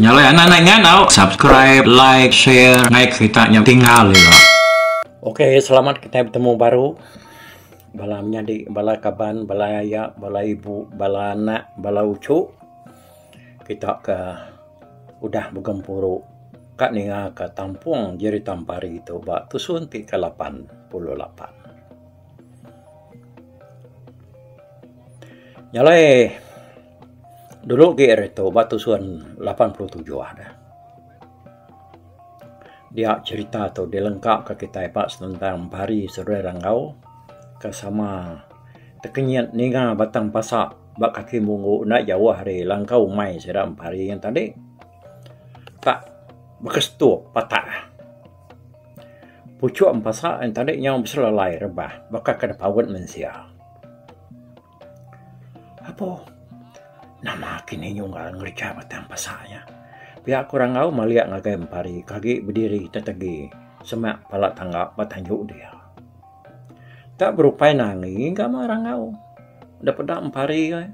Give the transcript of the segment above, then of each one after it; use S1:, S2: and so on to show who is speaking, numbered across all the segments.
S1: Nyalai anak nai ngandau subscribe like share ngai kerita nya tinggal ira. Okay
S2: selamat kitai betemu baru bala menyadi bala kaban bala aya bala ibu bala anak bala uchu. Kita ke udah begempuru ka ninga ka tampung Jeritampari tu ba tusun ti ke lapan puluh lapan. Nyalai dulu gih ari tu ba tusun lapan puluh tujuh dah. Dia cherita tu dilengkap ka kitai ba senentang pari Seruai Rangau ke sama Tekenyit ninga batang pasa ba kaki munggu enda jauh ari langkau umai sida empari ngan tali ka bekestup patah. Puchok empasa ngan tali nyau beselalai rebah baka ke nepaut mensia. Apo nama kinih nyunggal ngereja batang pasa nya? Pia ku rangau malik ngagai empari ke agi bediri tetegi semak pala tangga ba tanju dia. Ka berupai nangi ga mah rangau da peda empari ai.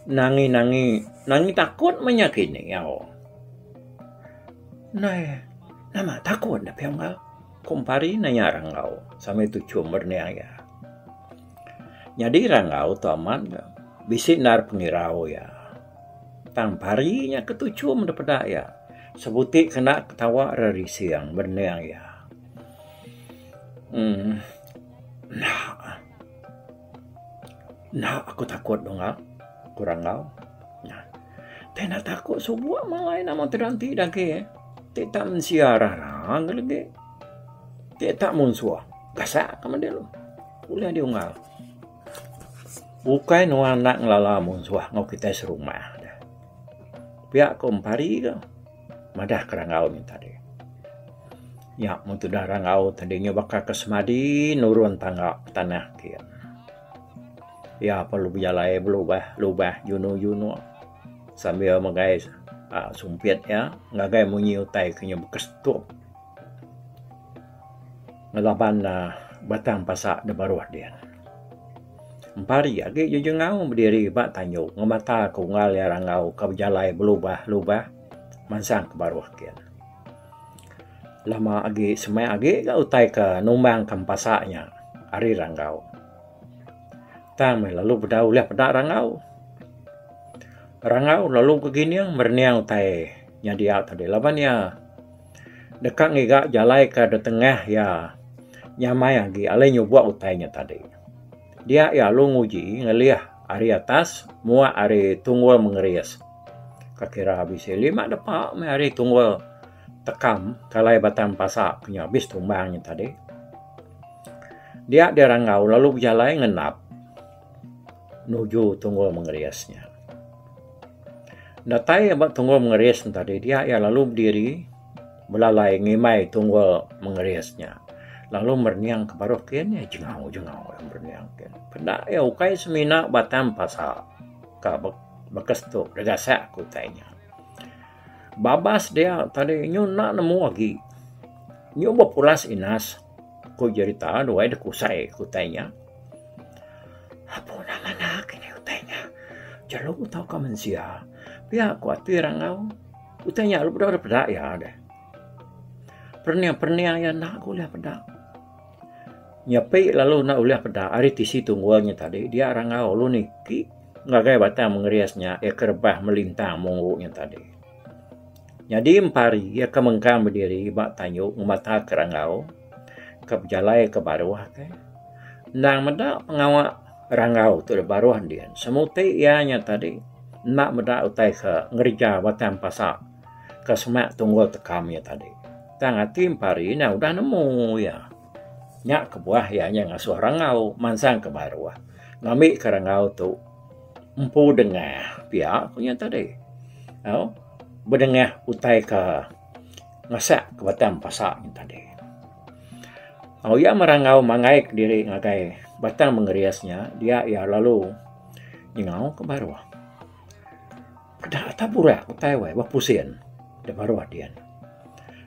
S2: Nangi nangi nangi takut mah inya kini au. Nai nama takut da pia enggau ku empari ne iya rangau sambel tuchum meret nia iya. Nyadi rangau tu amat bisi nanda pengira iya. Tang pari nya ke tuchum da peda iya. Sebuti ke enda ketawa ra rising bening iya. uhh Enda. Enda aku takut dungak ku rangau. Tapi enda takut subo malai nama ti dalam ti da agi eh. Ti tak mensia rarang legi. Ti tak munsuh gasak ka madi lu. Ulih diungau. Ukai nuan enda ngelala munsuh enggau kitai serumah ne. Pia ku empari ke madah ke rangau nya tadi. Nya mun tudah rangau tadi nya baka ke semadi nurun tangga tanah ati ne. Iya perlu bejalai belubah lubah junu junu sambil megai aaa sumpit iya ngagai munyi utai ke nya baka setup. Ngelaban batang pasa da baruh din. Empari agi Jujun Ngaung bediri ba tanju ngemata ke unggal iya rangau ke bejalai belubah lubah mansang ke baruh gin. Lama agi semai agi ga utai ke numbang ke empasa nya ari rangau. Tang meh lalu bedau ulih peda rangau. Rangau lalu begining merening utai nya dia tadi laban iya. Deka ngiga jalai ke ditengah iya nyamai agi alai nyubok utai nya tadi. Dia iya alu nguji ngelih ari atas muak ari tunggul mengeris. Ka kira bisi lima depa meh ari tunggul tekam ke alai Batang Pasa ke nya abis tumbang nya tadi. Dia Dia Ranggau lalu bejalai ngenap. nuju Tunggul Mengeris nya. Datai iya ba Tunggul Mengeris nya tadi dia iya lalu bediri belalai ngimbai Tunggul Mengeris nya lalu merening ke baruh ke iya jengau jengau iya merening ke iya. Peda iya ukai semina batang pasa ka bekestu degasak ke utai nya. Babas dia tadi nyu enda nemu agi. Nyu bepulas Inas, ku Jerita duai dekusai ke utai nya. Apu enda manah ke ini utai nya. Jelu tauka mensia. Pia ku ati rangau. Utai nya lalu deh peda iya deh. Pernia-pernia iya enda ku ulih peda. Nyepi lalu enda ulih peda ari tisi tunggul nya tadi dia rangau lalu niki. Ngagai batang mengeris nya iya ke rebah melintang mungu nya tadi. Nyadi empari iya ke mengkang bediri ba tanyu ngemata ke rangau ke bejalai ke baruh ke. Endang meda pengawa rangau tu da baruh din semuti iya nya tadi enda meda utai ke ngereja batang pasa ke semak tunggul tekam iya tadi. Tang ati empari nya udah nemu iya. Nya kebuah iya nya ngasuh rangau mansang ke baruh ngambi ke rangau tu empu dengah pia ku nya tadi. Au bedengah utai ke ngasak ke batang pasa nya tadi. Au iya merangau mangai kediri ngagai batang mengeris nya dia iya lalu nyengau ke baruh. Kedah atap urak ku tai wai ba pusin da baruh din.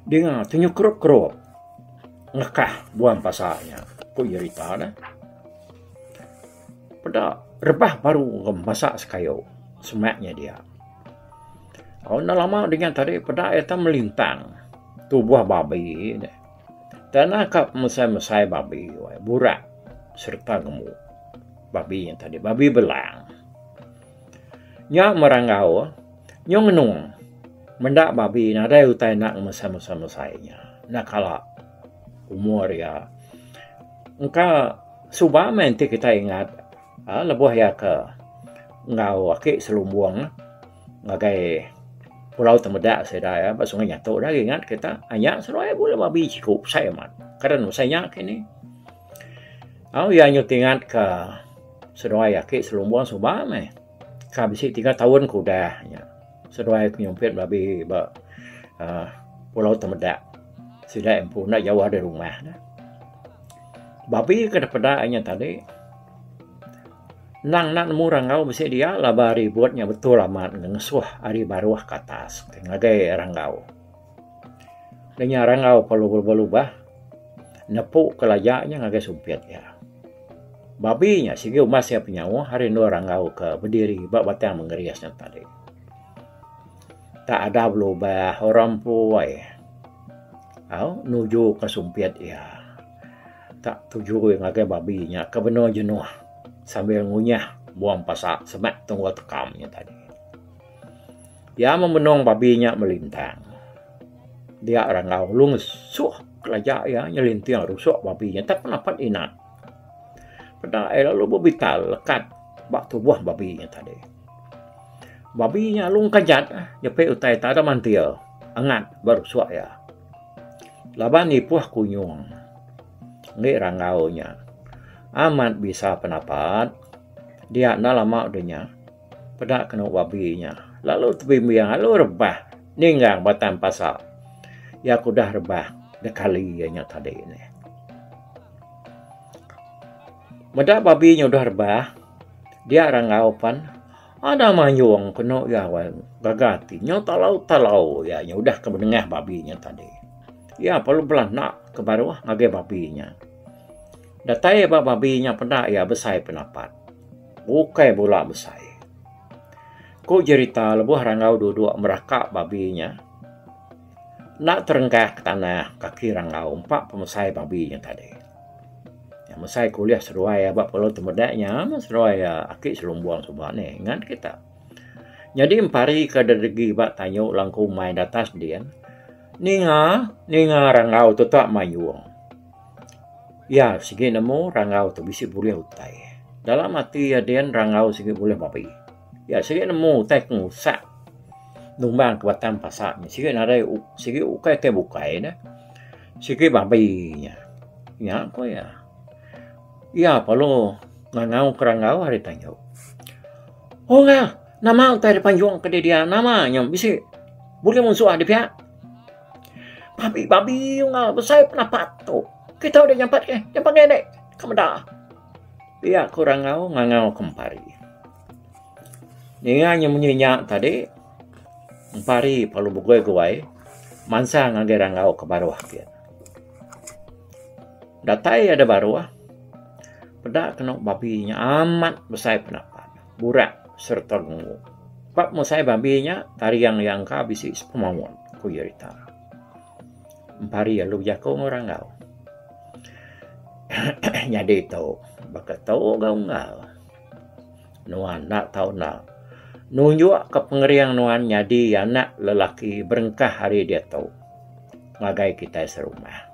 S2: Dinga ti nyukrup kerup ngekah buan pasa nya ku iya rita ne. Peda rebah baru ngemasa sekayu semak nya dia. Au enda lama dingan tadi peda iya tu melintang tubuh babi ne. Tanah ka mesai-mesai babi wai burak sereta ngembu. Babi nya tadi babi belang. Nya meranggau nyung ngenung meda babi nadai utai enda ngemesai-mesai-mesai nya. Enda kala umur iya. Engka suba meh enti kitai ingat uhh lebuh iya ke enggau aki selumbung ngagai pulau Temeda sida iya ba Sungai Nyatu dagi ingat kita. uhh Nya seruai bala babi siku besai amat. Kada nebesai nya kini. Au iya nyuti ingatka. Seduai aki selumbung suba meh. Ka bisi tiga taun ke udah nya, seduai ke nyumpit belabi ba aaa Pulau Temedak. Sida empu enda jauh ari rumah ne. Babi ke dipeda inya tadi endang enda nemu ranggau bisi dia laban ribut nya betul amat ngesuh ari baruh ke atas ngagai ranggau. Danya rangau perlu berubah-ubah nepu ke laja nya ngagai sumpit iya. Babi nya sigi umas iya penyauh ari endur rangau ke bediri ba batang mengeris nya tadi. Tak ada belubah orang empoi au nuju ke sumpit iya tak tuju iya ngagai babi nya ke benung jenuh sambil ngunyah buang pasa semak tungau tekam nya tadi. Iya memenong babi nya melintang. Dia Rangau lalu ngesuh kelaja iya nyelinting rusok babi nya tak napat inak. Peda iya lalu bebital lekat ba tubuh babi nya tadi. Babi nya lalu kejat nyepi utai iya tada mantil angat ba rusok iya. Laban ipoh ku nyong ende Rangau nya amat bisa penapat dia enda lama deh nya. Peda kenu babi nya lalu tebimbing lalu rebah ninggang batang pasal. Iya ke udah rebah nekali iya nya tadi nih. Meda babi nya udah rebah, dia ranggau pan ada mayung kenu iya gaga ati. Nyau talau-talau iya nya udah ke benengah babi nya tadi. Iya lalu belanak ke baruh ngagai babi nya. Datai ba babi nya peda iya besai penapat. Bukai bula besai. Ku jerita lebuh Ranggau duduk meraka babi nya enda terenggah ke tanah kaki Ranggau empa pemesai babi nya tadi. Iya mesai ke ulih seduai iya ba Pulau Temeda nya meh seduai iya aki selumbung suba ni ingat kita. Nyadi empari ke degi ba tanyu langkung mai datas din ninga ninga Ranggau tetak mayung. Iya, sigi nemu rangau tu bisi bulih utai. Dalam ati iya din rangau sigi bulih babbi. Iya sigi nemu utai ke ngusak numbang ke batang pasa nya. Sigi nadai sigi ukai ke bukai ne. Sigi babbi nya. Nya ku iya. Iya perlu ngangau ke rangau ari tanyu. Ungga nama utai da panjung ke didi iya? Nama nya bisi bulih munsuh dipia? Bambi bambi ungar besai penapat tu. Kita udah nyampat ke nyampat ngai nek ka meda. Pia ku rangau ngangau kempari. Ninga inya munyi nya tadi kempari lalu begoi goi mansang ngagai rangau ke baruh gin. Datai iya da baruh peda kenu bambi nya amat besai penapat. Burak sereta Nungu. Ba musai babi nya, Tariang iya engka bisi sepemawon, ku iya rita. Empari iya lu bejaku enggau Ranggau. Nyadi tu, baka tu ga unggal. Nuan enda tau enda nunjukka pengering nuan nyadi anak lelaki berengkah ari diatu ngagai kitai serumah.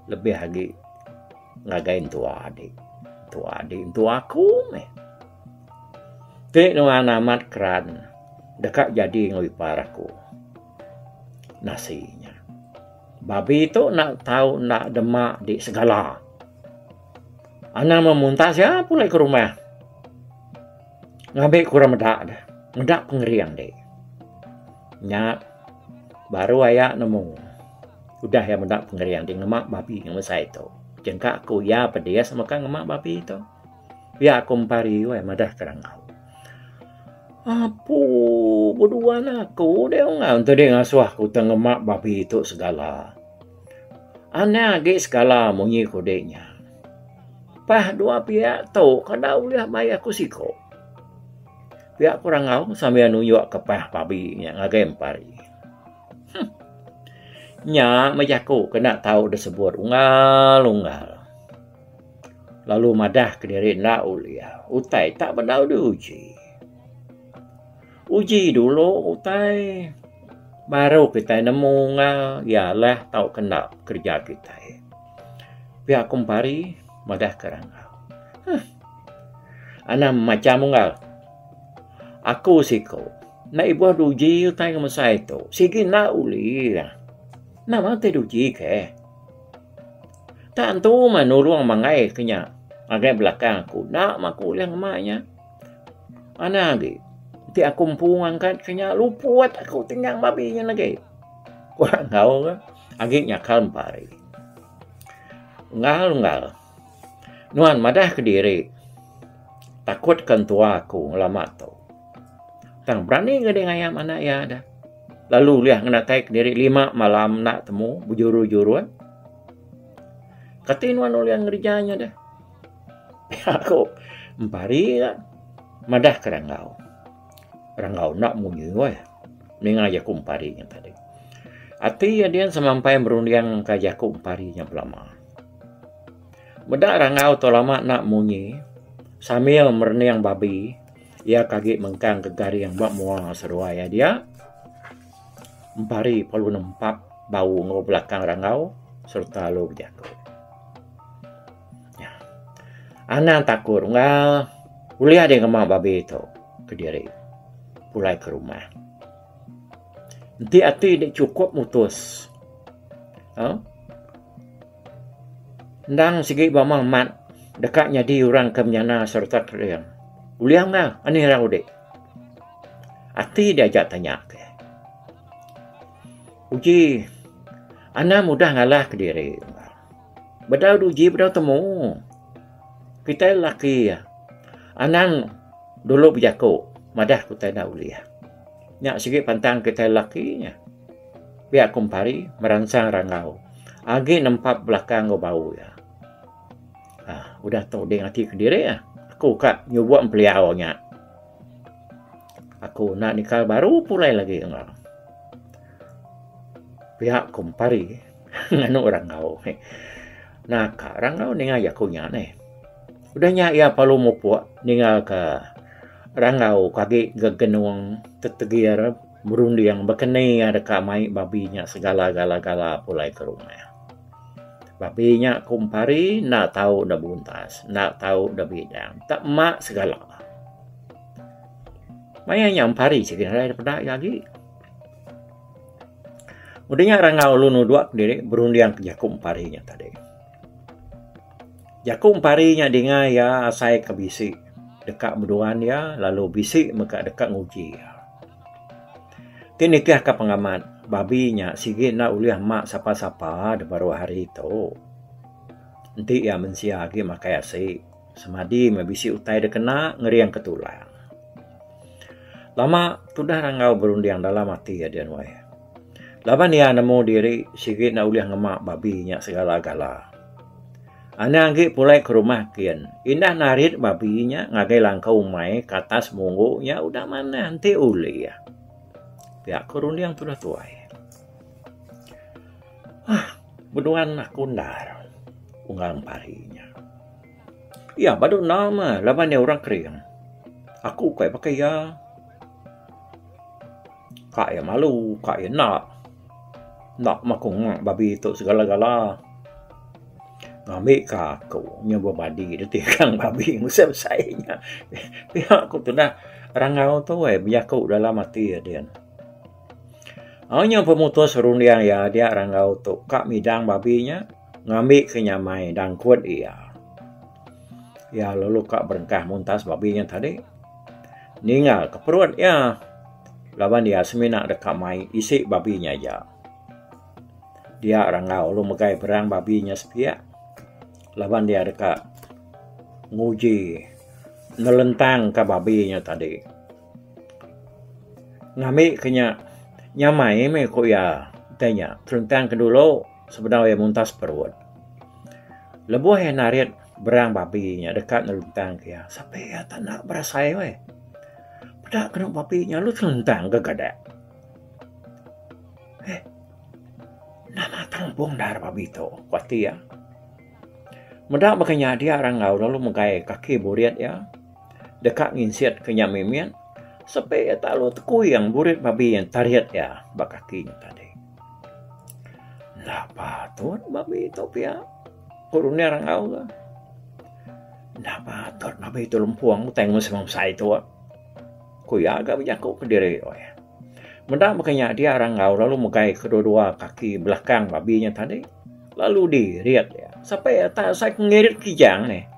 S2: Lebih agi. Ngagai entua adi. Entua adi entua aku meh. Ti nuan amat keran deka jadi enggau ipar aku. Nasi nya. Babi tu enda tau enda dema di segala. Anang meh muntas iya pulih ke rumah. Ngambi ke orang meda deh. Meda pengering dek. Nya baru aya nemu. Udah iya meda pengering di ngema babi ngan besai tu, jengka ku iya pedis meka ngema babi tu. Pia ku Empari weh madah Kerangau. Apu beduan aku deh ungau enti deh ngasuh aku ti ngema babi tu segala. Anang agi segala munyi ku deh nya. Pah dua pia tu kada ulih mayuh aku siko. Pia ku Rangau sambil nunjuk ke pah babi nya ngagai Empari. Huh. Nya meh jaku kena tau disebut ungal-ungal. Lalu madah kediri enda ulih. Utai tak bedau diuji. Uji dulu utai baru kitai nemu ungal iya lah tau kena kerja kitai. Pia ku empari madah ke rangau. Huh. Anang macam ungal. Aku siku. Enda ibuh duji utai ngemesai tu. Sigi enda ulih. Nama ti duji ke? Tak entu mah nulung manggai ke nya. Ngagai belakang aku. Enda mah aku ulih ngema nya. Anang agi. Ti aku empu ngangkat ke nya. Luput aku tinggang babi nyin agi. Ku Angau ke. Agi nyakal empa hari. Unggal-unggal. Nuan madah kediri takut ke entua aku ngelama tu. Tang berani ke ding ayam anak iya dah. Lalu ulih ngenatai kediri lima malam enda temu bejuru-jurun. Kati nuan ulih ngereja nya dah. Pia ku empari iya madah ke rangau. Rangau enda munyi weh. Ninga jaku empari nya tadi. Ati iya din semampai merunding ka jaku empari nya belama. Meda rangau tu lama enda munyi sambil merening babi iya ke agi mengkang ke garing ba mua seruai iya dia. Empari perlu nempa bau enggau belakang rangau sereta lu bejaku. Nya. Anang takut unggal ulih deh ngemau babi tu ke diri pulai ke rumah. Enti ati dek cukup mutus. Ha? Endang sigi bama mat deka nyadi orang ke menyana serta kering. Ulih unggal ani rau dek. Ati dia ajak tanya ke. Uji Anang mudah ngalah ke diri. Bedau duji bedau temu. Kitai lelaki iya anang dulu bejaku madah ku kitai enda ulih. Nya sigi pantang kitai lelaki nya pia ku empari meransang rangau agi nempap belakang enggau bau iya. Aaa udah tu ding ati kediri ah aku ka nyubo empeliau nya. Aku enda nikal baru pulai lagi enggau pia ku empari. Nganu Rangau. Naka Rangau ninga jaku nya neh. Udah nya iya parlu mupuk ninga ke Rangau ke agi gegenung tetegir merunding bekeni iya deka mai babi nya segala gala gala pulai ke rumah. Babi nya ku Empari enda tau da buntas, enda tau da bidang, da mak segala. Maya nya Empari chegin arai da peda iya agi. Udah nya Rangau lalu nuduh ke diri berunding ke jaku Empari nya tadi. Jaku Empari nya dinga iya asai ke bisi deka beduan iya lalu bisi mega deka nguji iya. Ti nitihka pengamat, babi nya sigi enda ulih ma sapa-sapa da baruh hari tu. Enti iya mensia agi makai asi. Semadi meh bisi utai da kena ngeringka tulang. Lama tudah Ranggau berunding dalam ati iya din weh. Laban iya nemu diri sigi enda ulih ngema babi nya segala-gala. Anang agi pulai ke rumah kin, indah narit babi nya ngagai langkau umai ke atas munggu nya udah manah enti ulih. Pia ko runding tudah tuai. Hah, beduan aku enda unggal empari nya. Iya, badu enda mah laban iya orang kering. Aku kai baka iya. Ka iya malu, ka iya enda. Enda mah aku ngak babi tu segala-gala. Ngambika aku nya bebadi ditikang babi besai-besai nya. Pia ku tundah rangau tu bejaku dalam ati iya din. Au nya pemutus runding iya dia Ranggau tu ka midang babi nya ngambi ke nyamai dangkut iya. Iya lalu ka berengkah muntas babi nya tadi ninggal ke perut iya laban iya semina deka mai isi babi nya aja. Dia Ranggau lalu megai perang babi nya sepiak laban dia deka nguji nelentang ka babi nya tadi. Ngambi ke nya nyamai meh ku iya utai nya seruntang ke dulu sebedau iya muntas perut. Lebuh iya narit berang babi nya deka neruntang ke iya sape iya tak enda berasai weh. Peda kenu babi nya lalu seruntang ke gadak. Heh enda matang empung endar babi tu ku ati iya. Meda baka nya dia ra enggau lalu megai kaki burit iya. deka nginsitka nya mimit sepi iya tak lalu tekuing burit babi yen tarit iya ba kaki nya tadi. Enda patut babi tu pia ku Runie rangau tu. Enda patut babi tu lempung utai ngemun semua besai tu. Ku iya ga bejaku kediri oi. Meda mega nya dia rangau lalu megai kedua-dua kaki belakang babi nya tadi lalu dirit iya sepi iya tak usah ngerit kijang nih.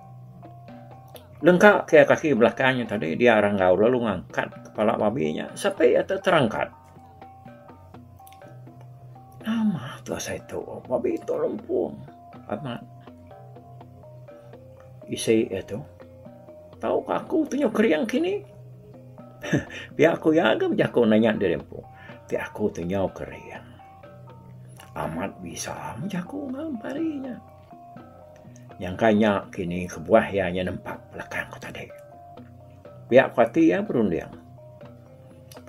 S2: Lengka ke kaki belakang nya tadi dia ranggau lalu ngangkat kepala babi nya sepi atu terangkat. Nama tu asai tu? Babi tu lempung amat. Isi iya tu. Tau ka aku tunyo kering kini. Pia aku iya ga bejaku nanya diri empu. Ti aku tunyo kering. Amat bisa bejaku ngan pari nya. Nyangka nya kini kebuah iya nya nempa belakang ku tadi. Pia ku ati iya berunding.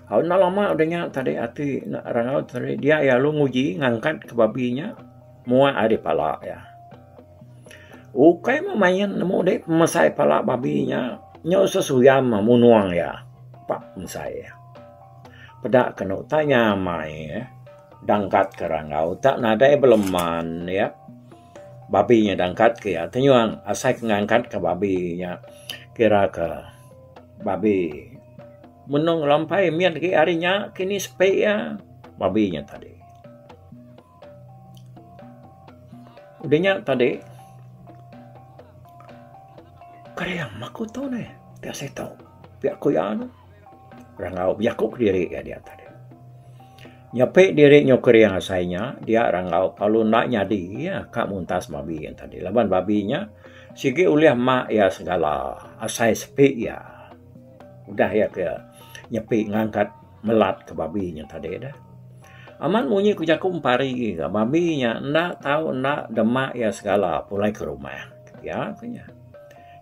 S2: Au enda lama udah nya tadi ati enda rangau tadi dia iya lalu nguji ngangkat ke babi nya muak ari pala iya. Ukai meh main nemu dih pemesai pala babi nya nyau sesuyam munung iya. Pak mesai iya. Peda kenu tanya mai iya. Dangkat ke rangau tak nadai beleman ya. Babi nya dangkat ke ya tenyuang asai ke ngangkat ke babi nya kira ke babi menung lampai mit agi hari nya kini sepi ya babi nya tadi. Udah nya tadi kering aku tu neh ti asai tau pia ku iya tu. Rangau bejaku kediri iya diak tadi. Nyepi diri nyu kering asai nya, dia rangau lalu enda nyadi iya ka muntas babi iya tadi laban babi nya sigi ulih mak iya segala asai sepi iya. Udah iya ke nyepi ngangkat melat ke babi nya tadi dah. Amat munyi ku jaku empari agi ga babi nya enda tau enda dema iya segala pulai ke rumah. Iya ke nya.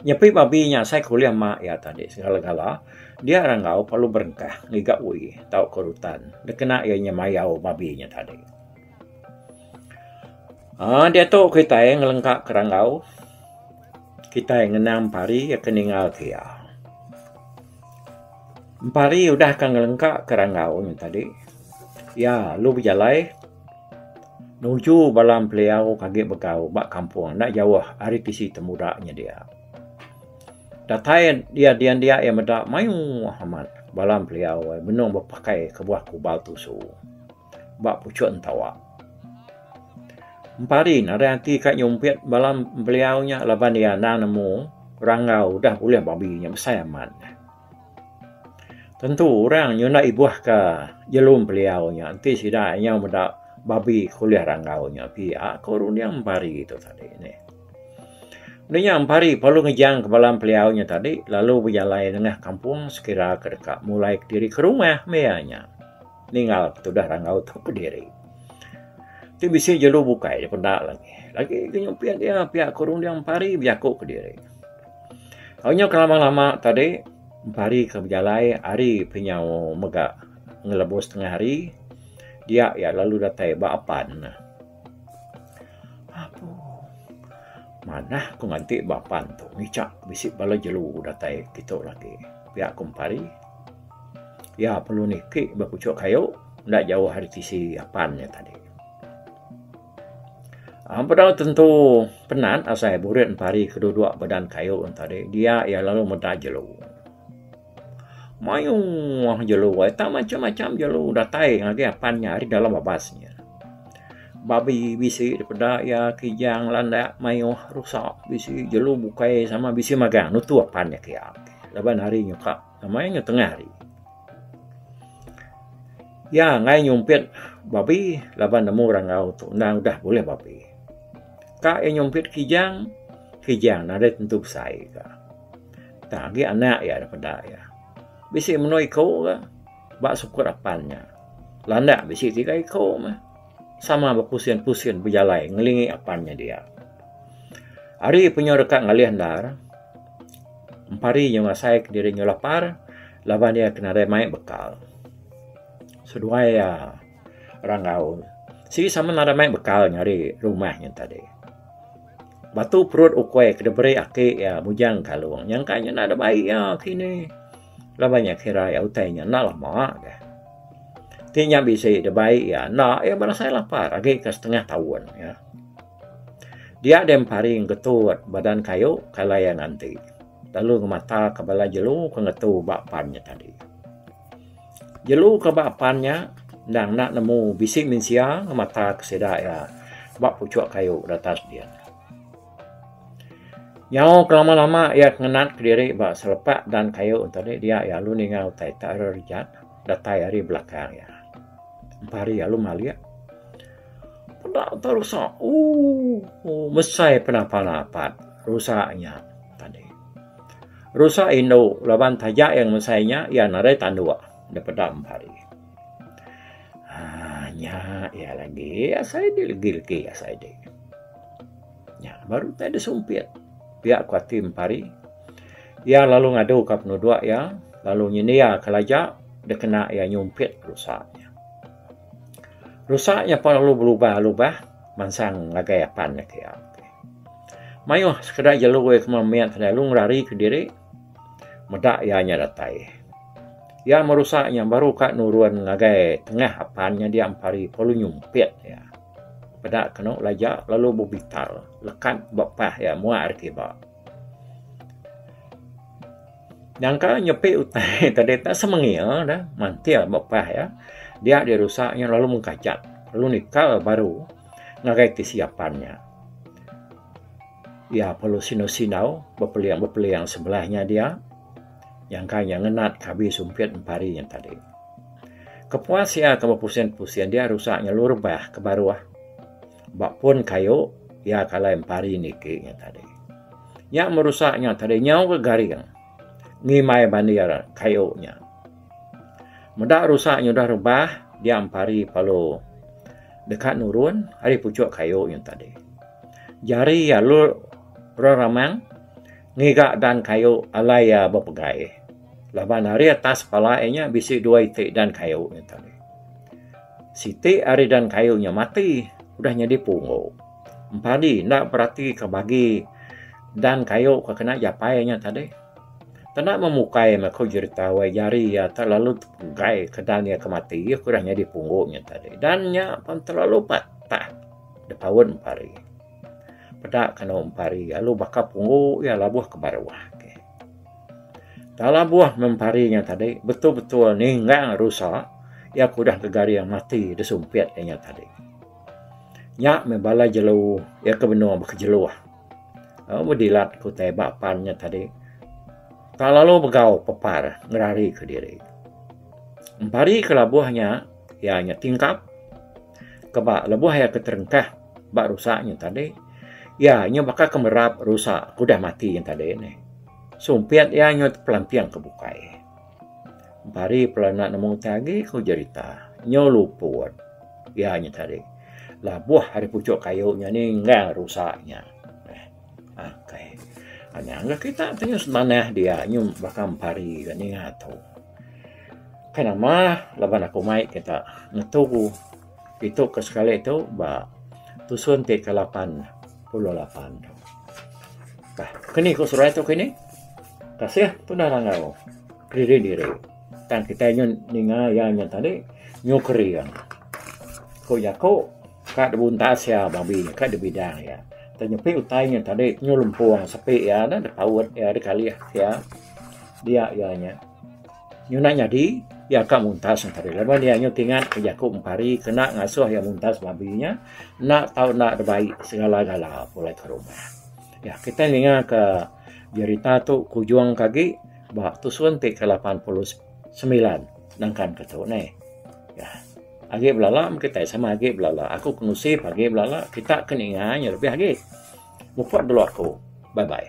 S2: Nyepi babi nya asai ke ulih mak iya tadi segala-gala dia ranggau perlu berengkah ngiga ui tauka rutan dikena iya nya mayau babi nya tadi. Aaa diatu kitai ngelengka ke ranggau kitai ngena empari iya ke ningal ke iya. Empari udah ka ngelengka ke ranggau nya tadi iya lalu bejalai. Nuju bala empeliau ke agi begau ba kampung enda jauh ari tisi temuda nya dia. Datai iya dian dia iya meda mayuh amat bala empeliau benung bepakai kebuah kubal tusu ba puchok entawa. Empari ne ari ati ka nyumpit bala empeliau nya laban iya enda nemu rangau udah bulih babi nya besai amat. Tentu orang nyenda ibuh ka nyelum beliau nya enti sida nyau meda babi ke ulih rangau nya pia ko runding empari tu tadi neh. Nya nya empari perlu ngejang ka bala beliau nya tadi lalu bejalai nengah kampung sekira ke deka mulai kediri ke rumah meh iya nya ninggal ke tudah rangau tu kediri. Ti bisi jelu bukai dipeda lagi. Lagi ke nyumpit iya pia ko runding empari bejaku kediri. Onya ke lama-lama tadi empari ke bejalai ari penyau mega ngelebuh setengah hari dia iya lalu datai ba apan ne. Apu manah ku nganti ba apan tu ngicha bisi bala jelu datai kitu lagi pia ku empari iya perlu niki ba puchok kayu enda jauh ari tisi apan iya tadi. Am bedau tentu penat asai burit pari ke dulu dua bedan kayu tadi dia iya lalu meda jelu. Mayuh mah jelu ai tang macam macam jelu datai ngagai apan nya ari dalam babas nya. Babi bisi dipeda iya kijang landak mayuh rusa bisi jelu bukai sama bisi magang nutu apan nya kiya laban ari nyungkak. Amai nge tengah hari. Ya ngai nyumpit babi laban nemu rangau tu endang udah bulih babi. Ka iya nyumpit kijang, kijang nadai tentu besai ka. Tang agi anak iya da peda iya. Bisi menoa iko ka ba sukut apan nya. Landak bisi tiga iko meh. sama bepusin-pusin bejalai ngelingi apan nya dia. Ari penyu deka ngalih endar, empari nya ngasai ke diri nya lapar laban iya ke nadai mai bekal. Seduai iya rangau sigi sama nadai mai bekal nya ari rumah nya tadi. Batu perut ukoi ke diberi aki iya mujang kalung nyangka nya nadai bai iya kini. Laban nya kira iya utai nya enda lama ka. Ti nya bisi dibai iya enda iya berasai lapar agi ke setengah taun ka. Dia deh empari ngetut badan kayu kalai iya nganti lalu ngemata ke bala jelu ke ngetu ba pan nya tadi. Jelu ke ba pan nya endang enda nemu bisi mensia ngemata ke sida iya ba puchok kayu di atas din. Nyau ke lama lama iya ke ngenat ke diri ba selepa dan kayu ento ni dia iya alu ninga utai ita ira rejat datai ari belakang iya empa ari alu malik peda utai rusa ooh mesai pena pala apat rusa nya tadi. Rusa indu laban taja iya ngemesai nya iya nadai tanduk daripada empa ari. Haa nya iya lagi asai agi legi legi asai agi. Nya baru utai da sumpit pia ku ati mempari iya lalu ngadu ka penudok iya lalu nyendia ka laja da kena iya nyumpit rusa nya. Rusa nya pun lalu belubah lubah mansang ngagai apan iya. Mayuh sekeda jelu iya keman mit lalu ngerari ka diri. Meda iya nya datai, iya merusa nya baru ka nurun ngagai tengah apan nya dia empari pelu nyumpit iya. Peda kenu laja lalu bebital lekat ba pah iya muak ari kiba. Nyangka nyepi utai tadi tak semengil dah mantil ba pah iya. Dia dirusa nya lalu mengkajat lalu nikal baru ngagai tisi apan nya. Iya perlu sindau-sindau bepeling-bepeling sebelah nya dia nyangka iya ngenat ke abi sumpit empari nya tadi. Kepuas iya ke bepusin-pusin dia rusak ngelu rebah ke baruh ba pun kayu iya ke alai empari niki nya tadi. Nya merusak nya tadi nyau ke garing ngimbai bandir kayu nya. Meda rusa nyudah rebah dia empari palu deka nurun ari puchok kayu nyun tadi. Jari iya lur orang ramang ngiga dan kayu alai iya bepegai laban ari atas pala iya nya bisi dua iti dan kayu nyun tadi. Siti ari dan kayu nya mati udah nyadi punggu. Empadi enda beratika bagi dan kayu ke kena japai iya nya tadi. Kena memukai meh aku jerita wai jari iya terlalu tepegai kedan iya ke mati iya ke udah nyadi punggu nya tadi dan nya pen terlalu patah depa wet empari. Peda ke enu empari lalu baka punggu iya labuh ke baruh ke. Tang labuh meh empari nya tadi betul-betul ninggang rusa iya ke udah gegaring mati disumpit iya nya tadi. Nya meh bala jelu iya ke benung baka jeluh. Aa bedilat ku utai ba pan nya tadi ka lalu begau pepar ngerari ke diri. Empari ke labuh nya iya nya tingkap ke ba lebuh iya ke terengkah ba rusa nya tadi iya nya baka ke merap rusa ke udah mati nya tadi neh sumpit iya nyut pelamping ke bukai. Empari pula enda nemu utai agi ku jerita Nyau Luput. Iya nya tadi labuh ari puchok kayu nya ni enggau rusa nya. Okay. Nya enggau kita ti nyau semanah dia nyau baka empari ka ninga tu. Kai nama laban aku mai kita ngetu. Ditu ke sekali tu ba tusun ti ke lapan puluh lapan tu. Bah, kini ku seruai tu kini. Kasih tundah rangau. Kiri diri. Tang kita nyun ninga iya nyun tadi nyukeri iya. Ku jaku ka dibuntas iya babi ka dibidang iya. Tang nyepi utai nya tadi nyelempung sepi iya dah dipaut iya dikalih iya. Dia iya nya. Nyunak nyadi, iya ka muntas entari laban iya nyau ti ngat ke jaku empari kena ngasuh iya muntas labi nya enda tau enda dibai segala-gala pulai ke rumah. Nya kitai ninga ke jerita tu kujung ke agi ba tusun ti ke lapan puluh semilan nangkan ke tu neh. Nya agi belala meh kitai sama agi belala. Aku ke ngusip agi belala kita ke ninga nya lebih agi. Muput dulu aku. Bye bye.